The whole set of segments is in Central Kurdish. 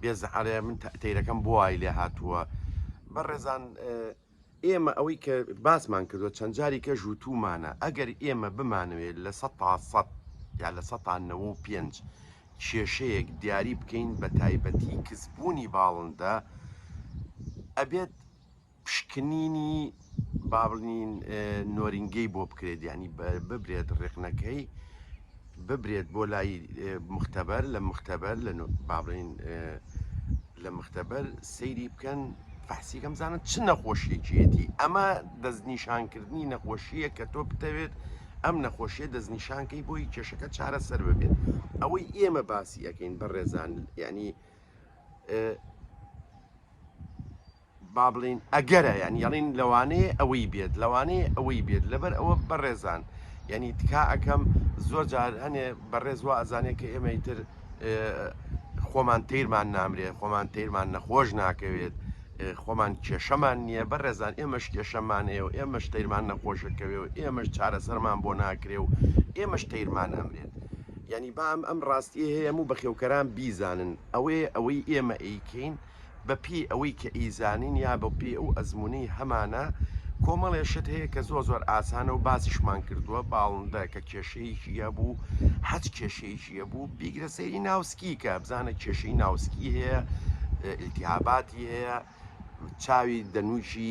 بێز عەرێ من تەیرەکەم بۆ وای لێ هاتووە بەڕێزان ئێمە ئەوەی کە باسمان کردو چەند جاری کە ژووتومانە ئەگەر ئێمە بمانوێت لە سە تا سە یا لە سە تا نەوە و پێنج کێشەیەک دیاری بکەین بە تایبەتی کزبوونی باڵندە ئەبێت پشکنینی با بڵین نۆرینگەی بۆ بکرێت یعنی ببرێت ڕێکنەکەی ببرێت بۆ لای مختبەر لە مختبەر لە با بڵین لە مختبەر سەیری بکەن فەحسی کەم زانن چ نەخۆشیەکیەتی ئەمە دەستنیشانکردنی نەخۆشیە کە تۆ بتەوێت ئەم نەخۆشیە دەستنیشانکەی بۆی کێشەکە چارەسەر ببێت ئەوەی ئێمە باسی ئەەکەین بە ڕێزان یعنی با بڵێین ئەگەرە یان یەڵین لەوانەیە ئەوەی بێت لەوانەیە ئەوەی بێت لەبەر ئەوە بەڕێزان یعنی تکا ئەەکەم زۆر جار هەنێ بەڕێز وا ئەزانێت کە ئێمەی تر خۆمان تیرمان نامرێ خۆمان تیرمان نەخۆش ناکەوێت خۆمان کێشەمان نییە بە ڕێزان ئێمەش کێشەمانەیە و ئێمەش تیرمان نەخۆشەکەوێ و ئێمەش چارەسەرمان بۆ ناکرێ و ئێمەش تیرمان ئەمرێت یعنی بام ئەم ڕاستی هەیە و بەخێوکەران بیزانن ئەوەیە ئەوەی ئێمە ئەیکەین و بە پێی ئەوەی کە ئیزانین یا بە پێی ئەو ئەزمونەی هەمانە کۆمەڵێ شت هەیە کە زۆر زۆر ئاسانە و باسیشمان کردووە باڵندە کە کێشەیەکی هەبوو حەج کێشەیەکی هەبوو بیگرە سەیری ناوسکی کە بزانە کێشەی ناوسکی هەیە التیهاباتی هەیە چاوی دەنووکی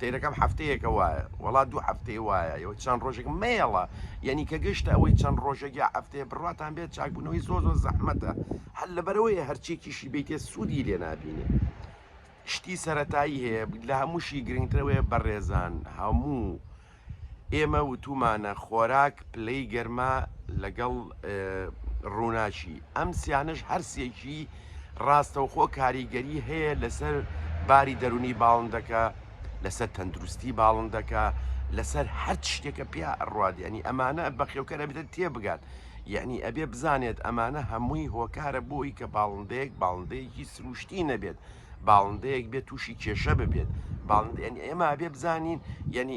تەیرەکەم حەفتەیەکە وایە وەڵا دوو هەفتەی وایە ئەوەی چەند ڕۆژێک مێڵە یعنی کە گەشتە ئەوەی چەند ڕۆژێک یا هەفتەیە بڕاتان بێت چاکبوونەوەی زۆ زۆر زەحمەتە هەر لەبەرەوەی هەرچێکیشی بیتێ سوودی لێ نابینێ شتی سەتایی هەیە لە هەمووشی گرنگترەوەی بەڕێزان هەموو ئێمە وتومانە خۆراک پلەی گەرما لەگەڵ ڕووناچی ئەم سیانش هەرسێکی ڕاستەوخۆ کاریگەری هەیە لەسەر باری دەرونی باڵندەکە، لەسەر تەندروستی باڵندەکە، لەسەر هەر شتێکە پیا ئەڕوات یعنی ئەمانە بەخێوکەرە بدە تێبگات یعنی ئەبێ بزانێت ئەمانە هەمووی هۆکارە بۆی کە باڵندەیەک باڵندەیەکی سروشتی نەبێت باڵندەیەک بێت تووشی کێشە ببێت باڵند ئەمە بێ بزانین یعنی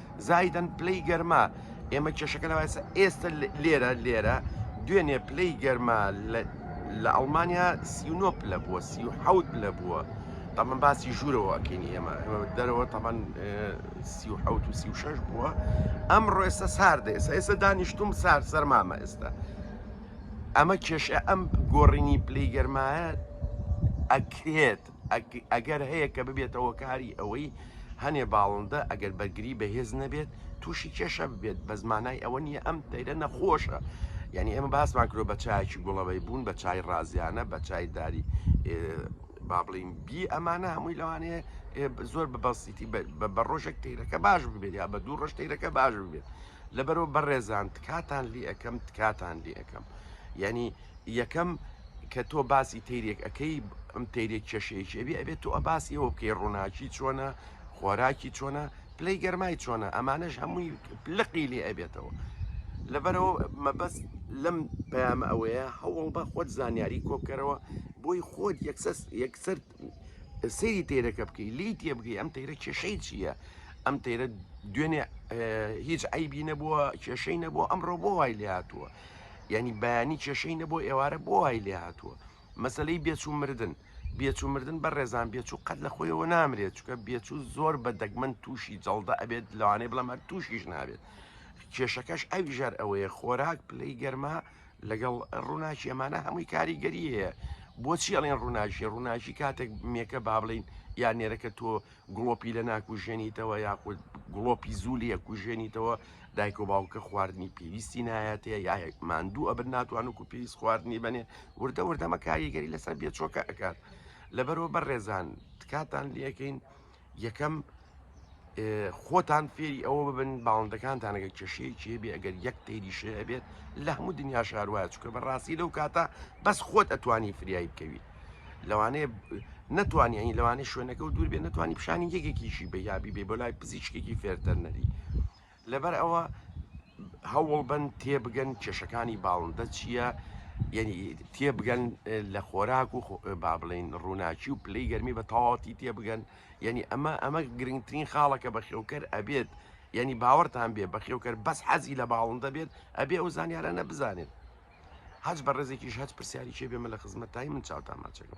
زایدەن پلەی گەرما ئێمە کێشەکە لەوایسە ئێستا لێرە لێرە دوێنێ پلەی گەرما لە ئەڵمانیا سیونۆ پلە بووە سی و حەوت پلە بووە تەمەن باسی ژوورەوە ئەکەین ئێمە ئێمە دەرەوە تەمان سی و حەوت و سی و شەش بووە ئەم ڕۆێستا ساردە ئێستا ئێستا دانیشتوم سار سەرمامە ئێستا ئەمە کێشە ئەم گۆڕینی پلەی گەرمایە ئەکرێت ئەگەر هەیە کە ببێتە هۆکاری ئەوەی هەنێ باڵندە ئەگەر بەرگری بەهێز نەبێت تووشی کێشە ببێت بە زمانای ئەوە نییە ئەم تەیرە نەخۆشە یعنی ئێمە باسمان کرۆ بە چایکی گوڵەوەی بوون بە چای ڕازیانە بە چای داری با بڵین بی ئەمانە هەمووی لەوانەیە زۆر بە بەسیتی بە ڕۆژێک تیرەکە باش ببێت یا بە دوو ڕۆژ تیرەکە باش ببێت لەبەرەوە بەڕێزان تکاتان لی ئەەکەم تکاتان لی ئەەکەم یعنی یەکەم کە تۆ باسی تەیرێک ئەەکەی ئەم تەیرێک کێشەیەکی ئەبێ ئەبێت تۆ باسی ئەوە بکەی ڕووناکی چۆنە خۆراکی چۆنە پلەی گەرمای چۆنە ئەمانەش هەمووی لقی لێ ئەبێتەوە لەبەرەوە مەبەست لەم پەیامە ئەوەیە هەوڵ بە خۆت زانیاری کۆکەرەوە بۆی خۆت یەکسەر سەیری تەیرەکە بکەی لی تێ بگەی ئەم تەیرە کێشەی چییە ئەم تەیرە دوێنێ هیچ ئەیبی نەبووە کێشەی نەبووە ئەمڕۆ بۆ وای لێ هاتووە یعنی بەیانی کێشەی نەبوو ئێوارە بۆ وای لێ هاتووە مەسلەی بێچوو مردن بێچوو مردن بە ڕێزان بێچوو قەت لە خۆیەوە نامرێت چکە بێچوو زۆر بە دەگمەن تووشی جەڵدە ئەبێت لەوانەیە بڵام هەر تووشیش نابێت کێشەکەش ئەویژار ئەوەیە خۆراک پلەی گەرما لەگەڵ ڕووناکی ئەمانە هەمووی کاریگەری هەیە بۆچی ئەڵێن ڕووناکی ڕووناکی کاتێک مێکە با بڵین یا نێرەکە تۆ گڵۆپی لە ناکوژێنیتەوە یاخود گڵۆپی زولی یە کوژێنیتەوە دایک و باوکە خواردنی پێویستی نایەتەیە یا ماندوو ئەبن ناتوان و پێویست خواردنی بنێ وردە وردەمە کاریگەری لەسەر بێچۆکە ئەکات لەبەرەوە بەڕێزان تکاتان لەکەین یەکەم خۆتان فێری ئەوە ببن باڵندەکانتانەگە کێشەیە کێ بێ ئەگەر یەک تێری شێ بێت لە هەموو دنیا شاروایە چکە بە ڕاستی لەو کاتە بەس خۆت ئەتوانی فریایی بکەویت لەوانەیە نتوانانی ئەین لەوانەیە شوێنەکە و دوور بێ نتوانانی پیشانی یەکێکیشی بە یابی بێ بۆ لای پزیشکێکی فێرتەرنەری لەبەر ئەوە هەوڵبن تێبگەن کێشەکانی باڵندە چییە یعنی تێبگەن لە خۆراک و با بڵین ڕووناکی و پلەی گەرمی بە تەواتی تێبگەن یعنی ئەمە ئەمە گرنگترین خاڵەکە بە خێوکەر ئەبێت یعنی باوەڕتان بێ بە خێوکەر بەس حەزی لە باڵندە بێت ئەبێ ئەو زانیارانە بزانێت هەچ بە ڕێزێکیش هەچ پرسیاری چێ بێمە لە خزمەت تای من چاوتان ماچەکە